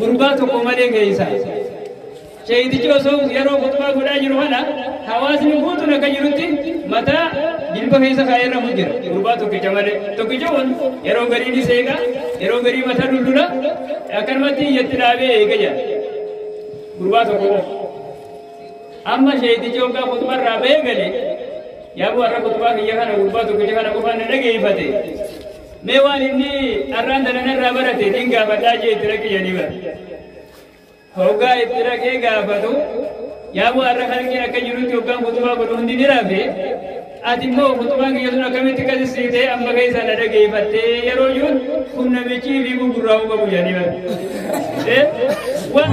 Gurbaa tokko malee keessa. Sheeyitichi osoo yeroo kutumaa godhaa jiru kana hawaasni guutuun akka jirutti mataa jilba keessa kaa'ee irra jira. Gurbaa tokkicha malee. Tokkicha kun yeroo garii ni seeqa, yeroo garii mataa dullula, akkanumatti iyyatti dhaabee eega jira. Gurbaa tokko qofa. Amma sheeyitichi hoggaa kutumaa irraa bahee gale yaabuu har'a kutumaa kiyya kana gurbaa tokkicha kana qofaan na dhageeffate. Mee waan inni arraan tana narraa barate niin gaafadhaa jee itti dhaqi jedhanii bara. Hoggaa itti dhaqee gaafatu yaa bu'aa irra kalqiin akka jirutti hoggaan kutubaa godhu hundi ni rafe. Ati immoo kutubaan kiyya sun akkamitti qasisiitee amma keessa na dhageeffattee yeroo jiruun kun namichi fi gurguraa'uu qabu jedhanii bara. Eh? Waan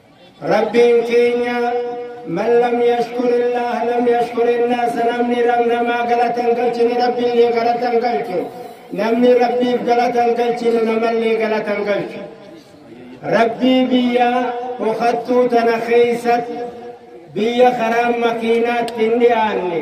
Rabbiin keenya man lam yashkurillaah lam yashkurinnaas namni rab namaa galata hin galchine rabbiillee galata hin galchu namni rabbiif galata hin galchine namallee galata hin galchu rabbii biyya dhokattuu tana keeysatti biyya karaan makiinaatti hin dhiyaanne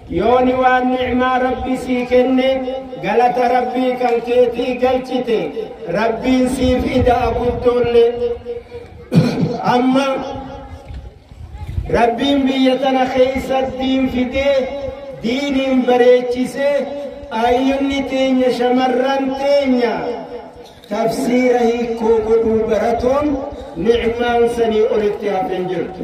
Yooni waan ni'maa Rabbi sii kenne galata Rabbii kan keetii galchite Rabbiin siif ida'a guddoolle. Amma Rabbiin biyya tana keessa diin fidee diiniin bareechisee ayyunni teenya shamarran teenya tafsiira hiikoo godhuu baratuun ni'maan sanii olitti hafeen jirtu.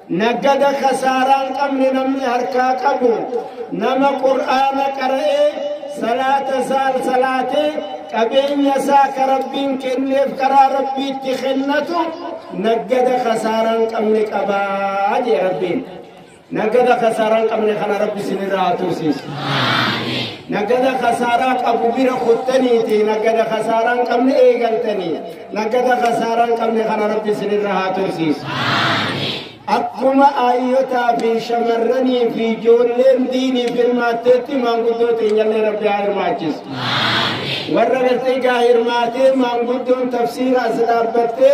Naggada kasaaraa hin qabne namni harkaa qabu nama qur'aana qara'ee salaata isaa salaatee qabeenya isaa ka rabbiin kenneef karaa rabbiitti kennatu naggada kasaaraa hin qabne qabaa jee rabbiin. Naggada kasaaraa hin qabne kana rabbi sinirraa haa tursiisu. Naggada kasaaraa qabu bira kuttaniiti naggada kasaaraa hin qabne eegaltanii. Naggata kasaaraa hin qabne kana rabbi isinirra haa tursiisu. Akkuma aayyotaa fi shamarranii fi ijoolleen diinii hirmaatteetti maanguddoo teenyallee rabbi haa hirmaachisu. Warra gasteegaa hirmaatee maanguddoon tafsiira as dhaabbattee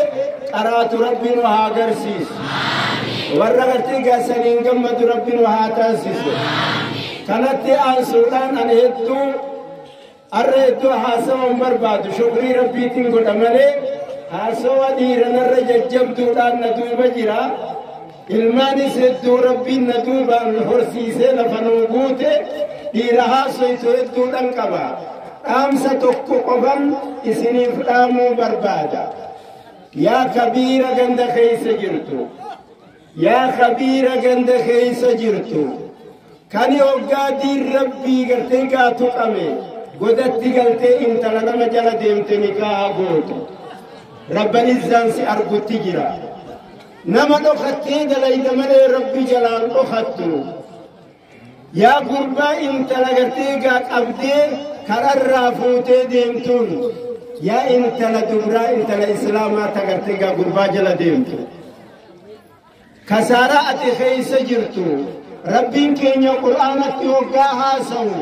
qaraatu rabbi nu haa agarsiisu. Warra gasteegaa saniin gammadu rabbi nu haa taasisu. Kanatti aansuudhaan ani hedduu Arra iddoo haasawa hin barbaadu shukrii rabbiitiin godha malee haasawa dhiiranarra jajjabduudhaan na duuba jira. Ilmaanis hedduu rabbiin na duubaan horsiisee lafa nuu guute dhiira haasoytu hedduudhaan qaba. Dhaamsa tokko qofan isiniif dhaamuu barbaada. Yaa kabiira ganda keessa jirtu. Yaa kabiira ganda keessa jirtu kani hoggaa diin rabbii gartee kaa tuqame godatti galtee intala nama jala deemte nikaaha gootu rabban izzaan si argutti jira nama dhokattee dalayda malee rabbi jalaan dhokattu Yaa gurbaa intala gartee egaa qabdee kararraa fuutee deemtuun yaa intala dubraa intala islaamaa ta gartee egaa gurbaa jala deemtu. Kasaaraa ati keessa jirtu rabbiin keenya qur'aanatti hoggaa haasawu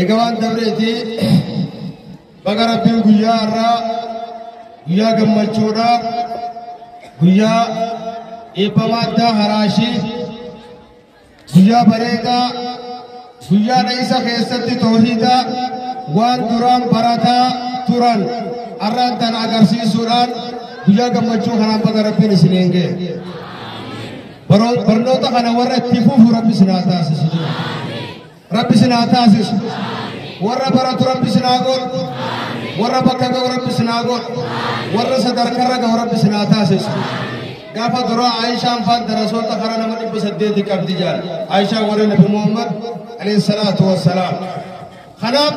Egaa waan dabreeti baga rabbiin guyyaa har'aa guyyaa gammachuudha guyyaa eebbamaa addaa haraashii guyyaa bareedaa guyyaa dha'iisa keessatti toohiidaa waan duraan barataa turan har'aan tana agarsiisuudhaan guyyaa gammachuu kanaan baga rabbiin isin eengee barnoota kana warra itti fufu rabbi isin haa taasisu. Rabbi isin haa taasisu. Warra baratu Rabbi isin haa godhu. Warra bakka ga'u Rabbi isin haa godhu. Warra sadarkarra ga'u Rabbi isin haa taasisu. Gaafa duraa Aayishaan faan darasoota karaa nama dhibba saddeeti qabdi jaal. Aayishaan warra Nabi Muhammad alayhi salaatu wassalaam. Kanaaf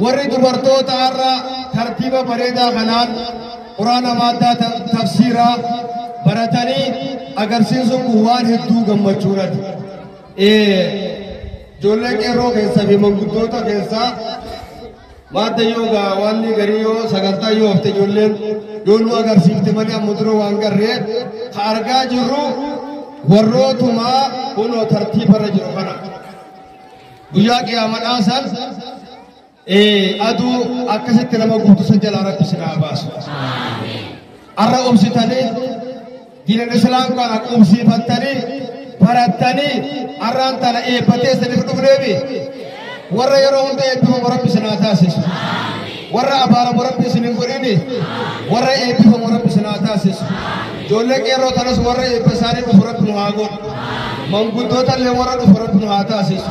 warri dubartoota har'a tartiiba bareedaa kanaan quraana maaddaa ta- tafsiiraa baratanii agarsiisuun kun waan hedduu gammachuudhaati. Ijoollee qeerroo keessaa fi manguddoota keessaa maadda yoo gaa waan garii yoo sagantaa yoo hafte ijoolleen yoo nu agarsiifte malee amma dura waan garree ka argaa jirru warrootumaa kunoo tartiibarra jiru kana. Guyyaa qiyaamadhaa san Ee aduu akkasitti nama guutu san jalaa rabbi sin haa baasu. Arra obsitanii diinal islaam kana qubsiifattanii barattanii arraan tana eebbatee isiniif dhufneefi warra yeroo hunda eebbifamu rabbi sin haa taasisu. Warra abaaramu rabbi isin hin godhini warra eebbifamu rabbi sin haa taasisu. Ijoollee qeerroo tanas warra eebba isaanii dhufu rabbi nu haa godhu. Manguddoota illee warra dhufu rabbi nu haa taasisu.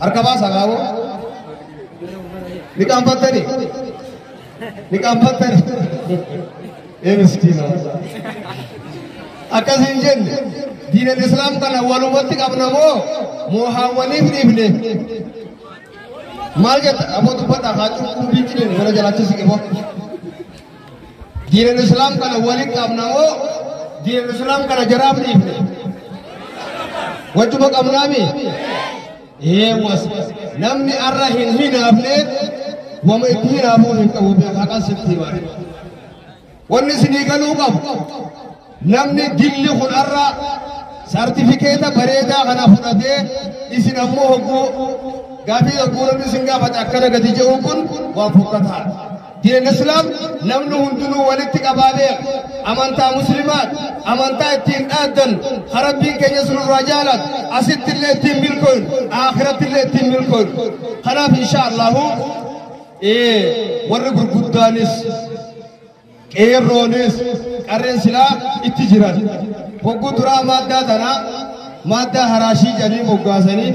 Harka baasaa gaaboo. Ni qaanfattani. Ni qaanfattani. Ee miskiina. Akkas hin jenne. Diinan Islaam kana walumatti qabna moo moohaawwaniif dhiifne. Maal jetta aboo dubbadha haa cuubbuu biichi deemu gara jalaachisi qiboo. Diinal Islaam kana waliin qabna moo diinal Islaam kana jaraaf dhiifne? Wajjuma qabnaami? Eewwas namni arra hin hinaafne wama itti hinaafuu hin qabu beekaa kan sitti himame. Wanni isinii galuu qabu Namni dilli kun har'a sartifikeeta bareedaa kana fudhatee isin ammoo hogguu gaafii hogguu namni isin gaafate akkana gadi jedhu kun waan fokkataadha. Diineen Islaam namni hundinuu walitti qabaa beeka. Amantaa Musliimaat, amantaa ittiin dhaaddan, harabbiin keenya sunirraa jaalat, asitti illee ittiin milkooyin, akhiratti illee ittiin milkooyin. Kanaaf insha Allahu warri gurguddaanis Qeerroonis qarreen silaa itti jiran hogguu duraa maaddaa tana maaddaa haraashii jedhanii moggaasanii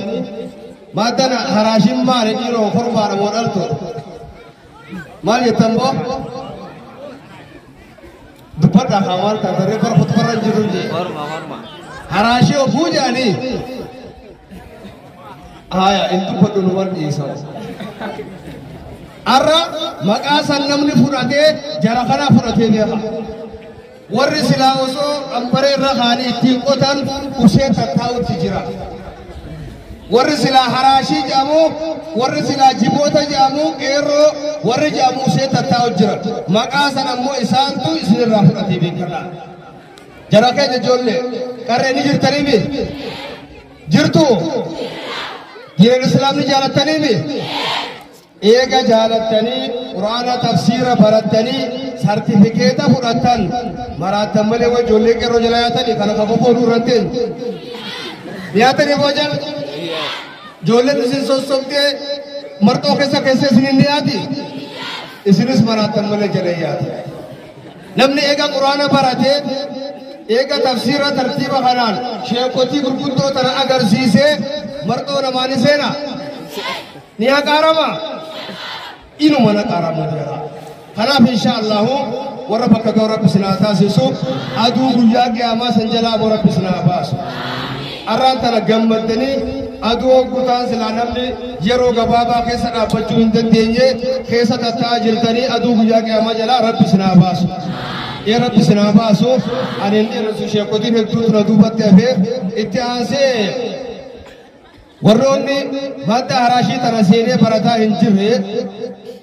maaddan haraashiin maali dhiiroo korbaadha moo dhaltu maal jettan boo dubbadha haa maal taatan reeffa kutubarra jiru jee haraashii ofuu jedhanii Haaya, hin dubbadhu nu barsiisa. Har'a maqaa san namni fudhatee jara kana fudhatee beeka. Warri silaa osoo qambaree irra kaanii ittiin qotan ushee tattaa'utti jira. Warri silaa haraashii jedhamu, warri silaa jiboota jedhamu, qeerroo, warri jedhamu ushee tattaa'u jira. Maqaa san ammoo isaantu isinirraa fudhatee beekadha. Jara keenya ijoollee qarree ni jirtaniimi? Jirtu? Diinal Islaam ni jaalattaniimi? Eega jaalattanii Quraana tafsiira barattanii sartifikeeta fudhattan maraattan malee waan ijoollee qeerroo jala yaatanii kana kan fofooduu irratti yaatanii boojan ijoolleen isin sossobdee marxoo keessa keessa isin hin dhiyaati isinis maraattan malee jala yaati. Namni eega Qur'aana baratee, eega tafsiira tartiiba kanaan sheekkotii gurguddoo tana agarsiisee marxoo namaa ni seena? Ni haqaarama? Inuma na qaaramu jira. Kanaaf insha Allahu warra bakka ga'u rabbi sinaa taasisu aduu guyyaa qiyaamaa san jalaa boo rabbi sinaa baasu. Arraan tana gammaddanii aduu hoggutaan silaa namni yeroo gabaabaa keessa dhaabbachuu hin dandeenye keessa tatta'aa jirtanii aduu guyyaa qiyaamaa jalaa rabbi sinaa baasu. Ee rabbi sinaa baasu ani hin dhiirrisu sheekotiin hedduutu na duubatti hafee itti aansee warroonni madda haraashii tana seenee barataa hin jirre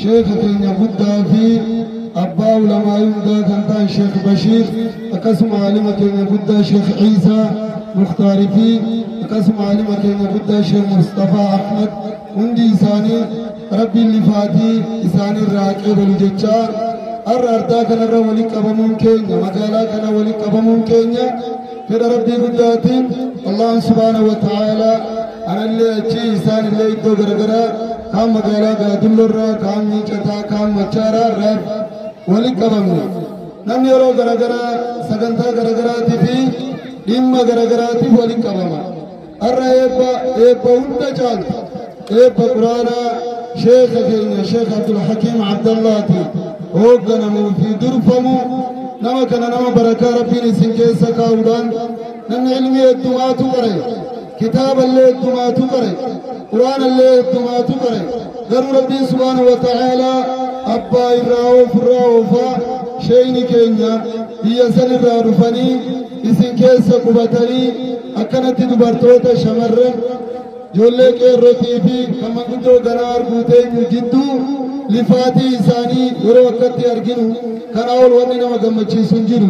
Sheekha keenya guddaa fi abbaa ulamaa hundaa kan ta'an Sheekh Bashiir akkasuma aalima keenya guddaa Sheekh Ciisaa Muktaarii fi akkasuma aalima keenya guddaa Sheekh Mustafaa Ahmad hundi isaanii rabbiin lifaatii isaanii irraa qeebalu jechaa har'a ardaa kanarra walitti qabamuun keenya magaalaa kana walitti qabamuun keenya fedha rabbii guddaatiin allah subhaanahu wa ta'aalaa anallee achii isaan illee iddoo garagaraa kaan magaalaa gaadulloorraa kaan miicataa kaan machaaraa irraa walitti qabamne namni yeroo garagaraa sagantaa garagaraatiif fi dhimma garagaraatiif walitti qabama Har'a eebba eebba hunda caalu eebba quraanaa sheeka keenya sheek Abdulhakiim Abdallaati hoogganamuu fi durfamu nama kana nama barakaa rabbiin isin keessa kaa'uudhaan namni ilmii heddumaatu qare kitaaballee heddumaatu qare quraanallee heddumaatu qare garuu rabbiin subhaanahu wa ta'aalaa abbaa irraa oofirraa oofaa sheeyni keenya biyya san irraa dhufanii isin keessa qubatanii akkanatti dubartoota shamarran ijoollee qeerrotii fi kan manguddoo ganaa arguu teenyu jidduu lifaatii isaanii yeroo akkatti arginu kanaa ol wanni nama gammachiisu hin jiru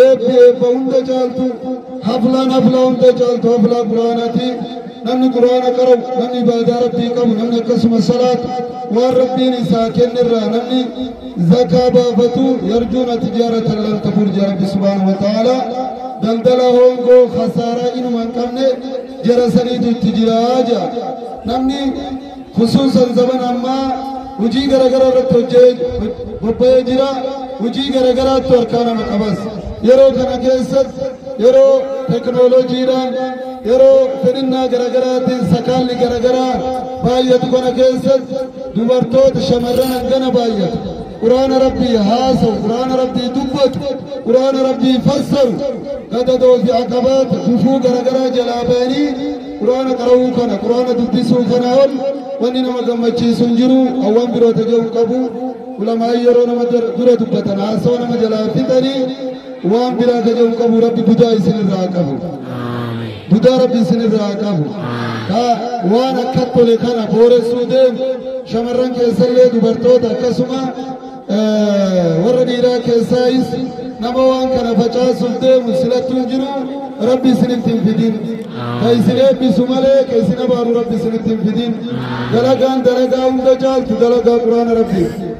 eebbi eebba hunda caaltu haflaan haflaa hunda caaltu haflaa quraanaati namni quraana qaru namni ibaadaa rabbii qabu namni akkasuma salaatu waan rabbiin isaa kennerraa namni zakaa baafatu yarjuuna tijaaratan lan tabuur jaa rabbi subhaanahu wa ta'aala daldala hoongoo khasaaraa inuma hin qabne jara saniitu itti jiraa jaa namni khusuusan zaman ammaa hujii garagaraa irratti hojjee bobba'ee jira hujii garagaraattu harkaa nama qabas yeroo kana keessatti yeroo teknooloojiidhaan yeroo fedhinnaa garaagaraatiin sakaalli garaagaraa baay'atu kana keessatti dubartoota shamarran hangana baay'atu quraana rabbii haasawu quraana rabbii dubbatu quraana rabbii fassaru gadadoo fi aqabaata gufuu garagaraa jalaa ba'anii quraana qara'uu kana quraana dubbisuu kana ol wanni nama gammachiisu hin jiru hawwan biroota jedhu qabu ulamaa'ii yeroo nama dura dubbatan haasawa nama jalaa fixanii waan biraa jaja'u qabu rabbi budaa isin irraa haa qabu budaa rabbi isin irraa haa qabu ka waan akka tole kana booressuu deemu shamarran keessallee dubartoota akkasuma eh, warra dhiiraa keessaayis nama waan kana facaasuuf deemu silattu hin jiru rabbi isinitti hin fidin ka isin eebbisu malee ka isin abaaru rabbi isinitti hin fidin dalagaan dalagaa hunda caaltu dalagaa quraana rabbiif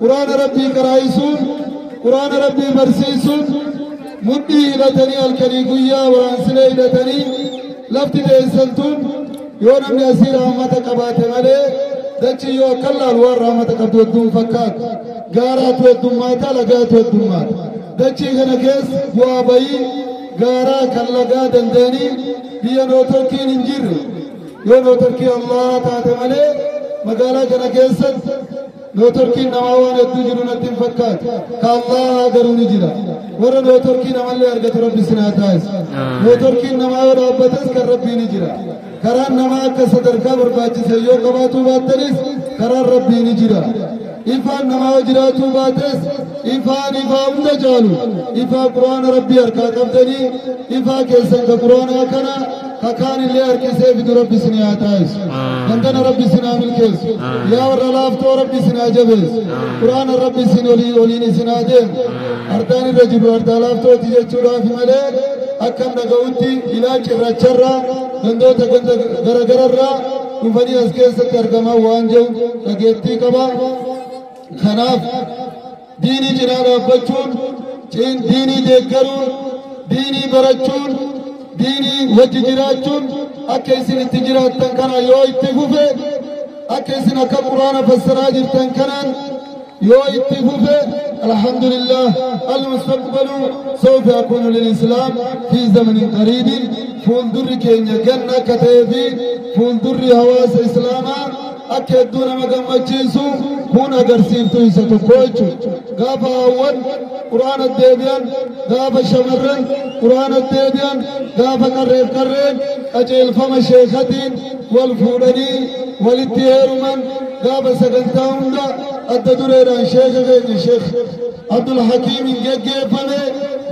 Quraana Rabbii qaraa'isuun, Quraana Rabbii barsiisuun, mudhii hidhatanii halkanii guyyaa waraansilee hidhatanii lafti teessan tun yoo namni asii rahmata qabaate malee dachii yoo akka laalu waan rahmata qabdu hedduu hin fakkaatu. Gaaraatu heddummaata, lagaatu heddummaata. Dachii kana keessa bu'aa bayii gaaraa kan lagaa dandeenii biyya nootorkiin hin jirre. Yoo nootorkii Allah taate malee magaalaa kana keessatti Nootorkiin namaa waan hedduu jiru natti hin fakkaatu. Ka Allaahaa garuu ni jira. Warra nootorkii namallee argatu rabbi isin haa taasisu. Nootorkiin namaa yoo dhaabbates kan rabbii ni jira. Karaan namaa akka sadarkaa barbaachise yoo qabaatuu baattanis karaan rabbii ni jira. Ifaan namaa yoo jiraatuu baates ifaan ifaa hunda caalu. Ifaa quraana rabbii harkaa qabdanii ifaa keessan ka quraanaa kana kakaan illee harkisee fidu rabbi isin haa taasisu dandana rabbi isin haa milkeessu yaa warra laaftoo rabbi isin haa jabeessu quraana rabbi isin olii oliin isin haa deemu ardaan irra jiru ardaa laaftooti jechuudhaaf malee akkan dhaga'utti ilaa cirracharraa gandoota ganda garagararraa dhufanii as keessatti argamaa waan jiru dhageettii qaba kanaaf Diinii cinaa dhaabbachuun, ciin diinii deeggaruun, diinii barachuun, diinii wajji jiraachuun akka isin itti jiraattan kana yoo itti fufe, akka isin akka quraana fassaraa jirtan kanaan yoo itti fufe, alhamdulillah al-mustaqbalu sawfa yakunu lil-islaam fi zamanin qariibin fuuldurri keenya ganna akka ta'ee fi fuuldurri hawaasa islaamaa akka hedduu nama gammachiisu kun agarsiiftuu isa tokko jechuudha. Gaafa haawwan quraana deebi'an, gaafa shamarran quraana deebi'an, gaafa qarreef qarreen qajeelfama sheekatiin wal fuudhanii walitti heeruman gaafa sagantaa hunda adda dureedhaan sheeka keenya sheeka. Abdul Hakiimiin geggeeffame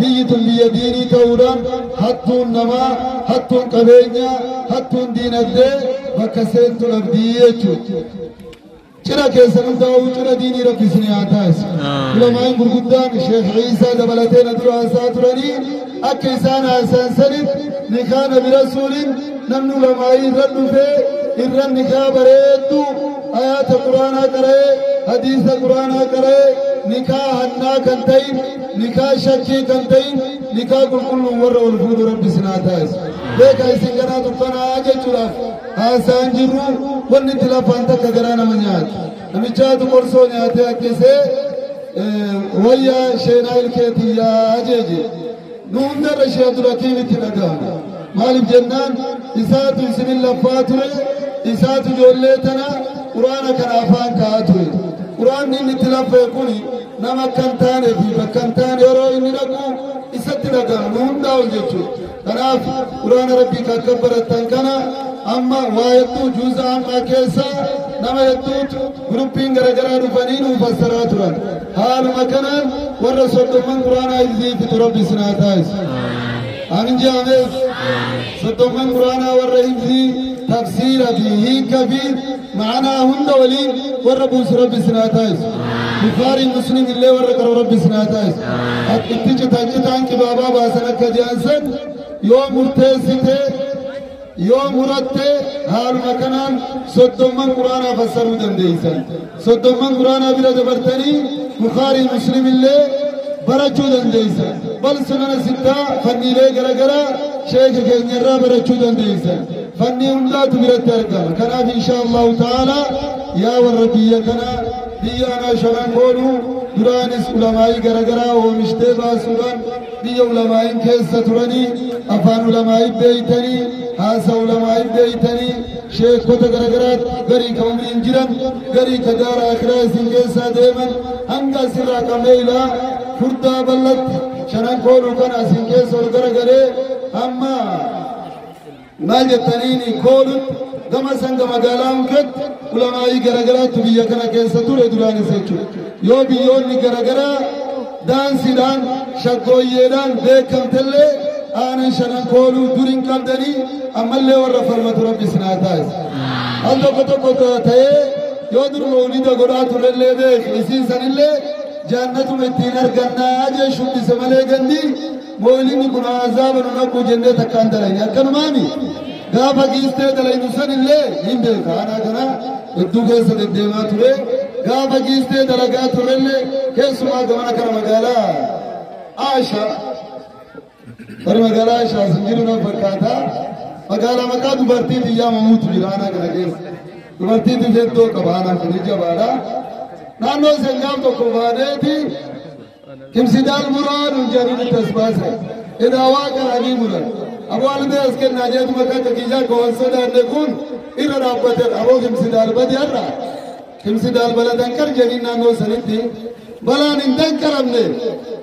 biyyi tun biyya diinii ta'uudhaan hattuun namaa, hattuun qabeenyaa, hattuun diinagdee bakka seentu dhabdii jechuudha. Cira keessan hundaa'uu cira diinii rabbi isin haa taasisu. Ulamaan gurguddaan Sheekh Ciisaa dabalatee na dura haasaa turanii akka isaan haasayan sanif nikaa nabi rasuulin namnu lamaayii irra dhufee irra nikaa bareeddu ayaata quraanaa qara'ee hadiisa quraanaa qara'ee nikaa hannaa kan ta'in nikaa shakkii kan ta'in nikaa qulqulluun warra ol fuudhu rabbi sinaa taa'is beeka isin garaa dukkanaa jechuudhaaf haasaan jirru wanni itti lafaan takka garaa nama nyaatu Namichaatu qorsoo nyaatee ajjeesee wayya sheenaa ilkee tiyyaa ajeeje. Nu hundarra ishee Abdulhakiim itti dhaga'ame. Maaliif jennaan isaatu isinin laffaa ture isaatu ijoollee tana quraana kana afaan ka'aa ture. Quraanni inni itti laffee kun nama akka hin taanee fi bakka hin taane yeroo inni dhaqu isatti dhaga'amu hundaa'u jechuudha. Kanaaf Quraana Rabbii kan kan barattan kana amma waa hedduu juuza ammaa keessa nama hedduutu guruppiin garaagaraa dhufanii nuu fassaraa turan. Haaluma kanaan warra soddomman Quraanaa iziifitu Rabbi isin haa taasisu. Ani jaamees soddomman Quraanaa warra ibsii tafsiira fi hiika fi Ma'anaa hunda waliin warra buusu rabbi isin haa taasisu. Bukhaarii muslim illee warra qaru rabbi isin haa taasisu. Akka itti citaan citaan qibaabaa baasan akka ji'an san yoo murteessite yoo muratte haaluma kanaan soddomman quraanaa fassaruu dandeessan. Soddomman quraanaa bira dabartanii Bukhaarii muslim illee barachuu dandeessan. Bal sunana sittaa fanniilee garaagaraa sheeka keenyarraa barachuu dandeessan. fanni hundaatu biratti argama kanaaf inshaa allahu ta'aalaa yaa warra biyya kanaa biyya anaa shanan koodhu duraanis ulamaa'ii garagaraa oomishtee baasuudhaan biyya ulamaa'iin keessa turanii afaan ulamaa'ii beeytanii haasa ulamaa'ii beeytanii sheekota garagaraa garii ka umriin jiran garii ka daara akiraa isin keessaa deeman hanga asirraa qabnee ilaa furdaa bal'atti shanan koodhu kana isin keessa ol garagalee amma Naa jettaniini koolutti gama sanga magaalaa hunketti ulamaa'ii garagaraatu biyya kana keessa ture duraanis jechuudha. Yoo biyyoonni garagaraa daansiidhaan shaggooyyeedhaan beekamtellee aanan shanan kooluu dur hin qabdanii ammallee warra falmatu rabbi isin haa taasisu. Al tokko tokko ta'ee yoo dur mawlida godhaa turellee beeku isiin sanillee jaannatuma ittiin argannaa jee shubbise malee gandii Moolinni kun azaaba nu dhaqqu jennee takka hin dalayne akkanumaami gaafa giistee dalaynu san illee hin beeka aanaa kana hedduu keessa deddeemaa ture gaafa giistee dalagaa ture illee keessumaa gamana kana magaalaa Aasha bari magaalaa Aasha sin jiru nan fakkaata magaalaa maqaa dubartii biyyaa mamuutu jira aanaa kana keessa dubartii bifeettoo qaba aanaa kun jabaadha naannoo seenaan tokko baadeeti Kimsidaan muraa nu jariin tasbaasa. Inaa waa garaanii muran. Aboo albee as kennaa jeetu bakka akka kiyyaa akka waan sodaanne kun irra dhaabbateera. Aboo kimsidaan badi har'a. Kimsidaan bala danqar jedhiin naannoo sanitti balaan hin danqaramne.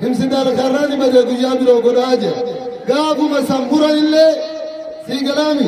Kimsidaan karraa ni bade guyyaa biroo godhaa jedha. Gaafuma san muran illee sii galaami.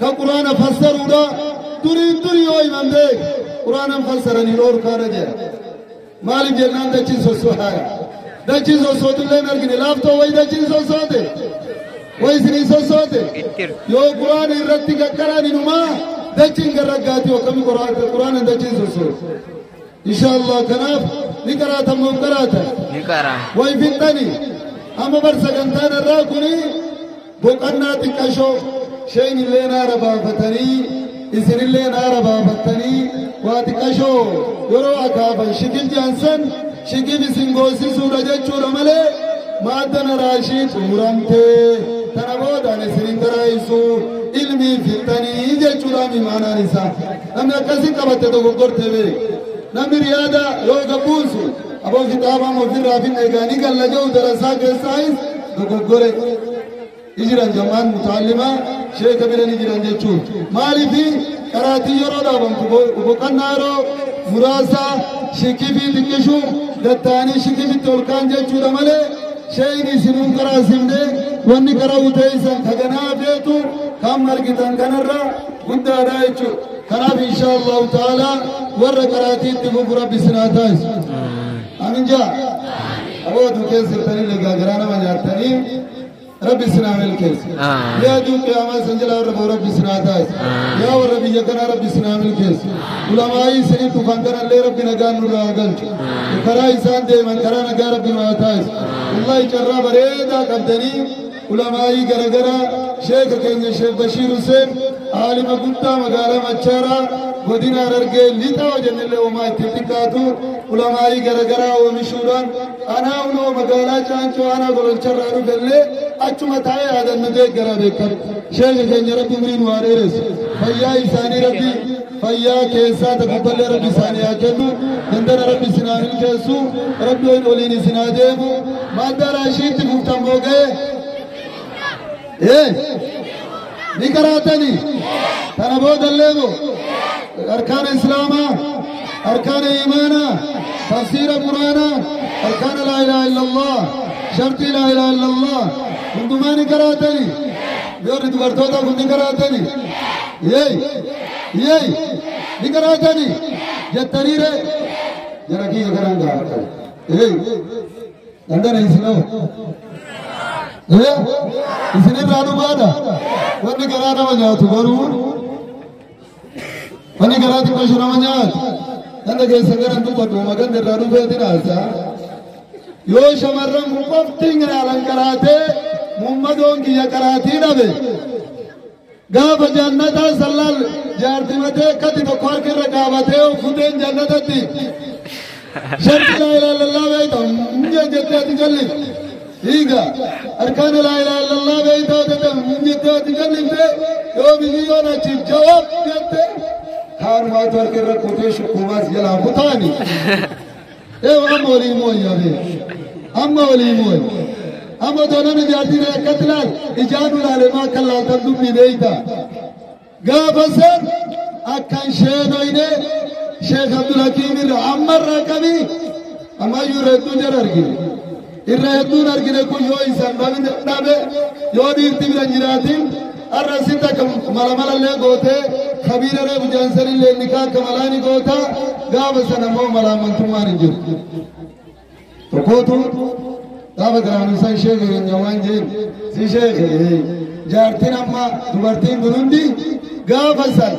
ka quraana fassaruudha duriin durii yoo himamte quraanan fassaranii dhoorkaadha jedha maaliif jennaan dachiin sossohaadha dachiin sossootillee hin argine laaftoo wayi dachiin sossoote wayi isinii sossoote yoo quraana irratti qaqqaraan inumaa dachiin garraggaati akkami quraanan dachiin sossoote inshaallah kanaaf ni qaraatan moo hin qaraatan ni qara way fixxani amma bar sagantaan irraa kuni Boqannaa xiqqashoo sheenillee naara baafatanii isinillee naara baafattanii waa xiqqashoo yeroo akaafan shikil jaansan shikil isin goosisuudha jechuudha malee maadda naraa ishii xumuramtee tana boodaan isin hin garaa'isu ilmii fixxanii jechuudha mimaanaan isaa namni akkasi qabatte dogoggortee beeku namni riyaada yoo gabbuusu aboo kitaabaan ofirraa finna egaa ni galla jedhu darasaa keessaayis dogoggore ni jiran jamaan mutaallimaa sheeka bira ni jiran jechuun maaliif qaraatii yeroo dhaabamtu boqonnaa yeroo muraasaa shikifii xiqqishuun gattaanii shikifitti ol kaan jechuudha malee sheeyni isinuu karaa simne wanni karaa uteessan kaganaa feetu kan margitan kanarra guddaadha jechuudha. kanaaf insha allahu taala warra qaraatiitti fufu rabbi sinaa taasisu amin jaa Aboo aduu keessa jirtanii nagaa garaa nama nyaattanii rabbi isin haa milkeessu. Amiin. Yaa aduu qiyaamaa isin jalaa warra ba'u rabbi isin haa taasisu. Amiin. Yaa warra biyya kanaa rabbi isin haa milkeessu. Ulamaa'ii isiniif dhufan kanallee rabbi nagaan nurraa haa galchu. Karaa isaan deeman karaa nagaa rabbi nu haa taasisu. Wallahi carraa bareedaa qabdanii Ulamaa'ii garagaraa sheeka keenya Sheek Bashiir Huseen aalima guddaa magaalaa Machaaraa godina Harargee lixaa jennellee uumaa itti xiqqaatu ulamaa'ii garagaraa oomishuudhaan anaa uloo magaalaa Caancoo aanaa gololcharraa dhufellee achuma taa'ee yaadannu deeggaraa beekan. Sheeka keenya rabbi umrii nu haa dheeressu. Fayyaa isaanii rabbi fayyaa keessaa takkatollee rabbi isaanii haa kennu dandana rabbi isin haa milkeessu rabbi waliin waliin isin haa deemu madda raashiitti fuftan mooga'e ee ni karaatani kana boodallee moo arkaana islaamaa arkaana imaanaa tafsiira quraanaa arkaana laa ilaaha illallah shartii laa ilaaha illallah hundumaa ni karaatani yoo dubartootaaf ni karaatani yee Yeey! Ni garaatani! Jettanii ree! Jara kiyya garaan garaata. Yeey! Dandana isinoo! Ee! Isinirraa dhugaadha! Wanni garaa nama nyaatu garuu wanni garaa xiqqashu nama nyaatu. Ganda keessa gara dubbadhu maganda irraa dhufeeti dhaasa. Yoo shamarran qofti nyaala garaatee muummadoon kiyya garaatii dhabe. Gaafa jannataa sallaal jaartimatee akkatti tokko harka irra dhaabatee of futeen jannatatti sharti laa ilaaha illallah beeyta mi'a jettee ati jalli hiiga harkaan laa ilaaha illallah beeyta jette jettee ati jallifte yoo biyyoon achiif jawaab jette kaanumaatu harka irra kutee shukkumaas jalaa kutaani. Eew amma olii mooyi abee. Amma olii mooyi. Amma otoo namni jaartii ta'e akkatti laal ijaa nu laalee maa akka laaltan dubbii beeyta. Gaafa san akkan sheenoyne Sheekh Abdul Hakiim irra ammarraa qabii ammayyuu reedduu jara argine. Irra hedduun argine kun yoo isan dhabne dhabe yoo dhiirti bira jiraatin har'a sitti akka mala malallee gootee kabiira reefu jaansanillee nikaa akka malaa ni goota gaafa sana immoo malaamantummaan hin jiru. Tokkootu gaafa garaanu san sheeka keenya waan jeen si sheeke jaartiin amma dubartiin kun hundi gaafa sana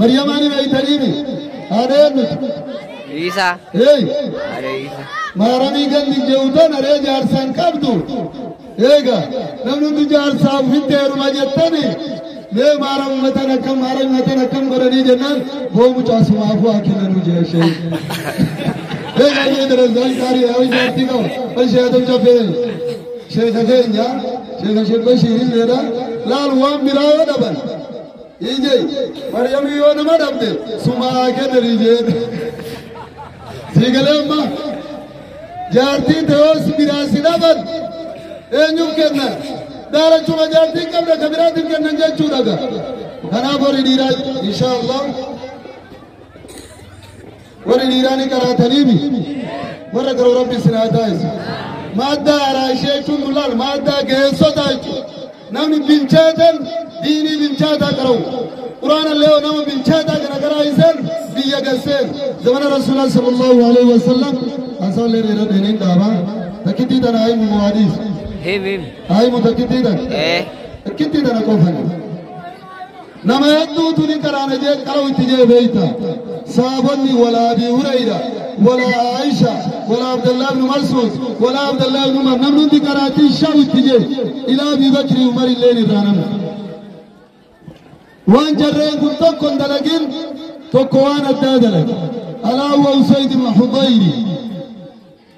Maryamaa ni beektaniimi? Haadha eenyuti? Riisaa. Hey! Haadha Riisaa. Maaramii gandi jeewutan aree jaarsaan qabdu. Eega namni hundi jaarsaa ofitti heeruma jettani mee maaram matan akkam maaram matan akkam godhanii jennaan boo mucaa sumaafuu haa kennanuu jira ishee. Eega ishee darasaan gaarii haa ijaartii qaba. Kan ishee hatam caffee sheeka keenya sheeka sheek Bashiirii jedha laal waan biraa yoo dhaban Ije Maryamii yoo nama dhabde sumaa kennanii jeen. Sii galee amma jaartii ta'oos biraa si dhaban eenyuuf kenna daalachuma jaartii qabda ka biraatiif kennan jechuudha ga. Kanaaf horii dhiiraa inshaallah Warri dhiiraa ni qaraataniibi. Warra garuu rabbi isin haa taasisu. Maaddaa haaraa ishee jechuun dulaan maaddaa geessota jechuudha. Namni bilchaatan diinii bilchaataa qara'u. Quraana illee yoo nama bilchaataa kana karaa isaan biyya gasseen. Zamana Rasuulaa sallallahu alaihi wasallam haasaan illee dheeraa dheeriin dhaabaa. Takkittii tana haayimu muwaadiis. Him him. Haayimu takkittii tana. Eh. Takkittii tana qofani. Nama hedduutu ni qaraana jee qara'u itti jee beeyta. Saabonni walaa Abii Hurayra, walaa Aisha, walaa Abdallaa ibn Mas'ud, walaa Abdallaa ibn Umar namni hundi qaraatii shaa'u itti jee ilaa Abii Bakri Umar illeen irraa namni. Waan jarreen kun tokko hin dalagin tokko waan addaa dalage. Alaa wa Usayd ibn Hudayri.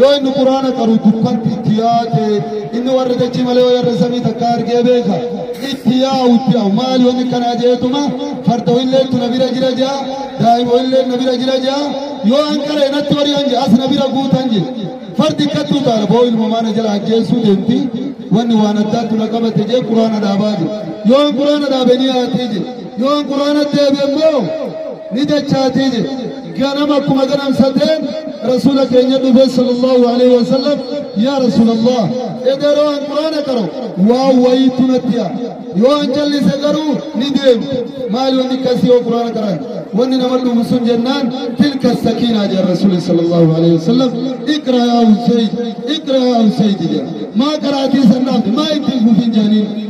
Yoo inni quraana qaru dukkanti itti yaate inni warra dachii malee yoo yarra samii takka argee beeka itti yaa'u itti yaa'u maali wanni kanaa jeetuma farda illee tuna bira jira jaa daa'ima illee na bira jira jaa yoo an qara inatti warii an as na bira guutan je fardi kattu taala boo ilma maana jala ajjeessuu deemti wanni waan addaa tuna qabate jee quraana dhaabaa je yoo an quraana dhaabe ni yaatee je Yoon Quraanatti deebi'e immoo ni dachaatii jedhe. Ganama akkuma ganamsateen Rasuula keenya dhufe sallallahu alaihi wasallam yaa Rasuulallah edaroo an Quraana qaro waan wayiitu natti yaa. Yoo an callise garuu ni deemti. Maali wanni akkasii yoo Quraana qaran? Wanni nama dhufu sun jennaan tilka sakiinaa jedha Rasuulli sallallahu alaihi wasallam iqra yaa Usayd iqra yaa Usayd jedha. Maa qaraatii san dhaabde maa ittiin fufin jedhaniin.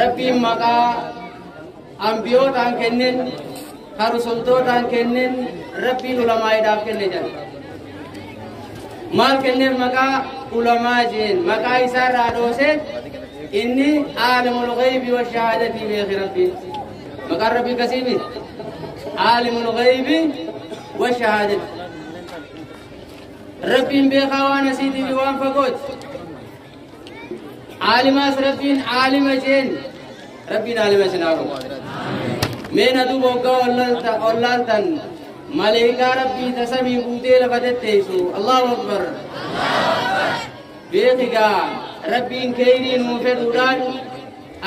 Rabbiin maqaa ambiyootaan kennen ka rusultootaan kennen rabbiin ulamaa'iidhaaf kenne jedha maal kenneen maqaa ulamaa jeen maqaa isaa irraa dhoosee inni aalimul ghaybi wa shahaadatii beeki rabbiin maqaan rabbii kasii miti aalimul ghaybi wa shahaadatii rabbiin beekaa waan asiitii fi waan fagooti Aalimaas rabbiin aalima jeen rabbiin aalima isin haa godhu. Mee na duuba hoggaa ollaalta- ollaaltan maleekaa rabbii tasamii guutee lafa tetteessu Allahu Akbar. Beekigaa rabbiin keeyrii nuu fedhuudhaan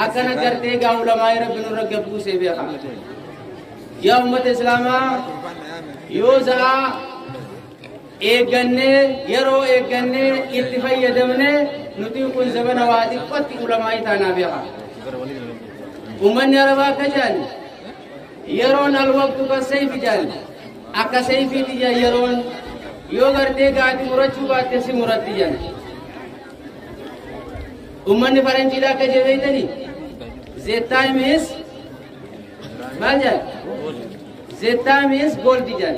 akkana gartee gaa ulamaa'ee rabbi nurra gabbuusee beeka. Yaa ummata Islaamaa yoo za'aa eeggannee yeroo eeggannee itti fayyadamne nuti kun zabana waa xiqqootti ulamaa'ii taanaa beeka. Uummanni arabaa akka jedhan yeroon alwaqtu kan seefi jedhan akka seefiitti jedhan yeroon yoo gartee gaati murachuu baatte si muratti jedhan. Uummanni faranjiidha akka jebeeytani the time is maal jedhan the time is gold jedhan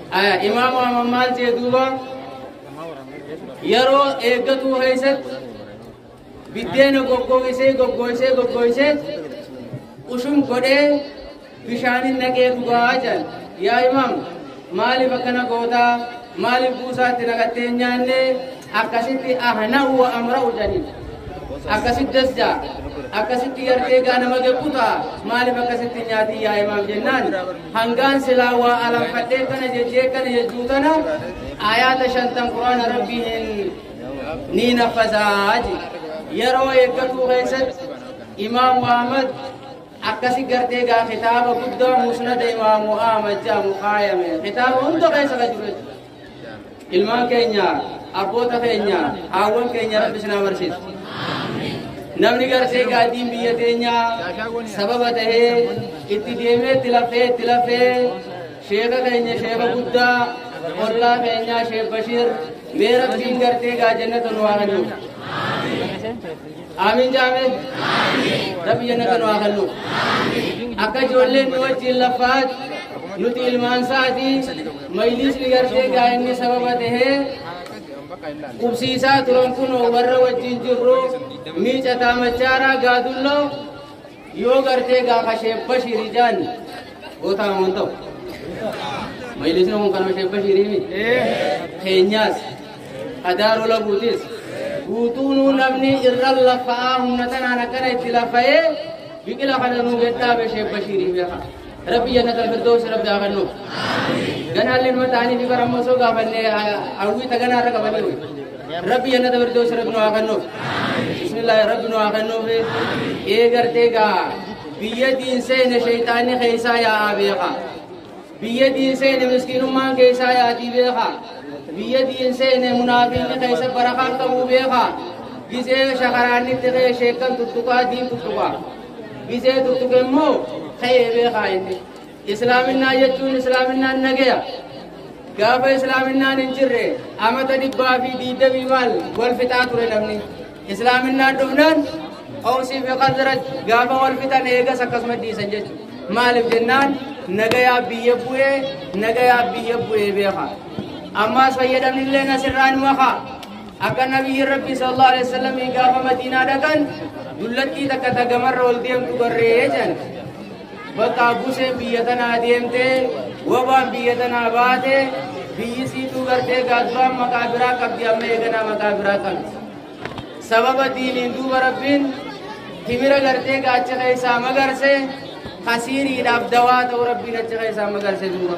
Imaam Ahmad maal jee duuba yeroo eeggatuu keessatti biddeena goggoogisee goggoogisee goggoogisee ushum godhee bishaanin naqee dhugaa jedhan yaa imaam maaliif akkana gootaa maaliif buusaatti naqattee hin nyaanne akkasitti ahna'u wa amra'u jedhaniin akkasitti dasja akkasitti yartee gaa nama gequta maaliif akkasitti nyaatii yaa imaam jennaan Hangaan silaa waa alanfadhee kana jechee kana jechuu tana ayaata shantan quraana rabbii hin ni naffasaa je yeroo eeggatuu keessatti imaamu ahmad akkasi gartee gaa kitaaba guddaa musnada imaamu ahmad jedhamu kaayame kitaaba hunda keessa ka jiru jechuudha ilmaan keenya abboota keenya haawwan keenya rabbi isin haa barsiisu namni garsee gaaddiin biyya teenyaa sababa ta'ee itti deemee itti lafee itti lafee sheeka keenya sheeka guddaa ollaa keenyaa sheek bashiir mee rabbiin gartee gaa jennata nu haa kennu Aamiin jaame. Rabbi jannata nu haa kennu. Akka ijoolleen nu wajjin laffaat nuti ilmaan isaati mayliisni gartee gaa'inni sababa tahee qubsiisaa turan kunoo warra wajjin jirru miicataa machaaraa gaadulloo Yoo gartee gaafa Sheekh Bashirii jaan gootaa waan ta'u. Majlisni kun kanuma Sheekh Bashirii mi? Keenyaas, Adaaroo Laguutis, guutuunuu namni irra lafa'aa humna tanaan akkana itti lafa'ee biqila kana nuu gadhaabe Sheekh Bashirii beekaa. Rabbi jannatal firdoosi rabbi haa kennu. Ganaalli ilma ta'anii fi bara ammoo soo gaafanne hawwii taganaa irra qabaniiru. Rabbi jannata firdoosi rabbi nu haa kennu. Bismillaahi rabbi nu haa kennu fi ee gartee gaa biyya diin seene sheeyxaanni keessaa yaa'aa beeka. Biyya diin seene miskiinummaan keessaa yaa'aa beeka. Biyya diin seene munaafiqni keessa barakaan qabuu beeka. Gisee shakaraannitti kee sheekkan tuttuqaa diin tuttuqaa. Gizee tuttuqe immoo ta'ee beekaa inni. Islaaminaa jechuun islaaminaan nagaya. Gaafa islaaminaan hin jirre amata dhibbaa fi diidamii maal wal fixaa ture namni. Islaaminaan dhufnaan qawsii fi qazraj gaafa wal fixan eegas akkasuma dhiisan jechuudha. Maaliif jennaan nagayaa biyya bu'ee nagayaa biyya bu'ee beekaa. Ammaas fayyadamni illee asirraan makaa. Akka nabiyyi rabbii sallallahu alaihi wasallam gaafa madiinaa dhaqan dullattii takka ta gamarra ol deemtu barree jedhan. Bakka buseen biyya tanaa deemtee wabaan biyya tanaa baate biyyi siituu gartee gaaduraan maqaa biraa qabdi amma eeganaa maqaa biraa qabdi. Sababa diiniin duuba rabbiin timira gartee gaacha keessaa magarse kasiiriidhaaf dawaa ta'u rabbiin achi keessaa magarse duuba.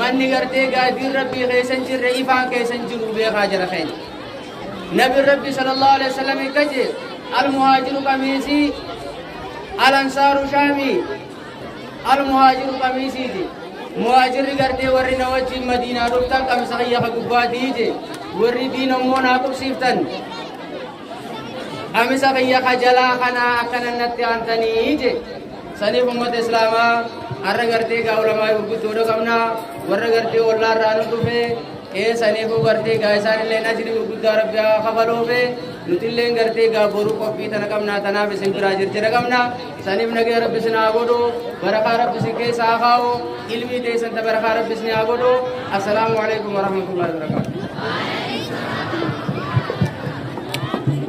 Manni gartee gaaddiin Rabbii keessa hin jirre ifaan keessa hin jiru beekaa jara keenya. Nabi Rabbi sallallahu alaihi wasallam akka jedhe al-muhaajiru qamiisii al-ansaaru shaamii al-muhaajiru qamiisiiti. Muhaajirri gartee warri na wajjin madiinaa dhuftan qamisa kiyya ka gubbaatii je warri diin ammoo naa qubsiiftan Qamisa kiyya ka jalaa kana akkana natti aantanii je. Saniif ummata Islaamaa har'a gartee gaa ulamaa gurguddoodha qabna warra gartee ollaa irraa nu dhufe ee saniifuu gartee gaa isaan illee ajrii gurguddaa rabbi haa kafaluufe nuti illee gartee gaa boruu qophii tana qabna tanaaf isin biraa jirjira qabna. Isaniif nagaya rabbi isin haa godhu barakaa rabbi isin keessa haa kaa'u ilmii teessan ta barakaa rabbi isin haa godhu assalaamu alaikum warahmatullahi wabarakatuh.